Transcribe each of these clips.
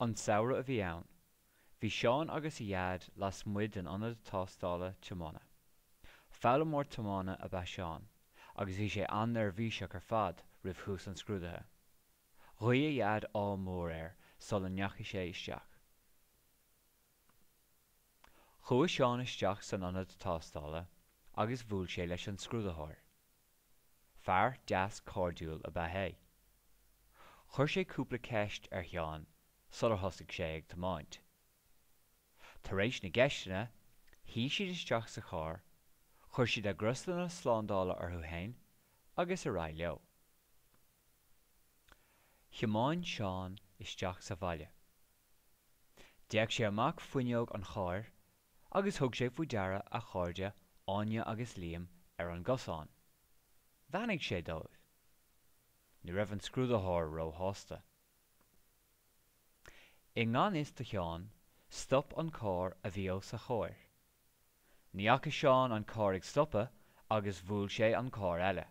An samhradh a bhí ann. Bhí Seán agus a Dhaid lasmuigh den ionad tástála tiomána. Foghlaimeoir tiomána ab ea Seán agus bhí sé an-neirbhíseach ar fad roimh thús an scrúdaithe. Ghuigh a Dhaid ádh mór air sula ndeachaigh sé isteach. Chuaigh Seán isteach san ionad tástála agus bhuail sé leis an scrúdaitheoir. Fear deas cairdiúil ab ea é. Chuir sé cúpla ceist ar Sheán sular thosaigh sé ag tiomáint. Tar éis na gceisteanna, shuigh siad isteach sa charr, chuir siad a gcrosanna slándála orthu fhéin agus ar aghaidh leo. Thiomáin Seán isteach sa bhaile. D'fhéach sé amach fuinneog an chairr agus thug sé faoi deara a chairde Áine agus Liam ar an gcosán. Bheannaigh sé dóibh. Ní raibh an scrúdaitheoir róshásta. I ngan fhios do Sheán, stop an carr a bhí os a chomhair. Ní fhaca Seán an carr ag stopadh agus bhuail sé an carr eile.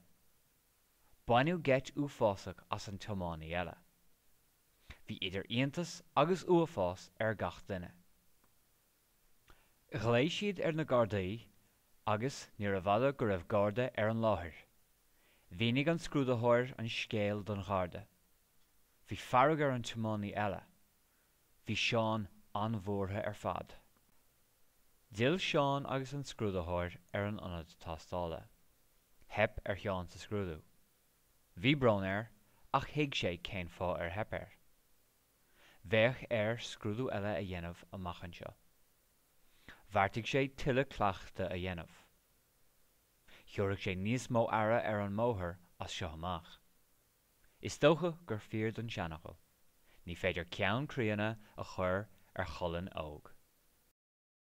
Baineadh geit uafásach as an tiománaí eile. Bhí idir iontas agus uafás ar gach duine. Ghlaoigh siad ar na Gardaí agus níorbh fhada go raibh Garda ar an láthair. Mhínigh an scrúdaitheoir an scéal don Gharda. Bhí fearg ar an tiománaí eile. Bhí Seán an-bhuartha ar fad. D'fhill Seán agus an scrúdaitheoir ar an ionad tástála. Theip ar Sheán sa scrúdú. Bhí brón air ach thuig sé cén fáth ar theip air. Bheadh air scrúdú eile a dhéanamh amach anseo. Bheartaigh sé tuilleadh cleachtadh a dhéanamh. Thiúrfadh sé níos mó aire ar an mbóthar as seo amach. Is dócha gur fíor don seanfhocal, ní féidir ceann críonna a chur ar cholainn óg.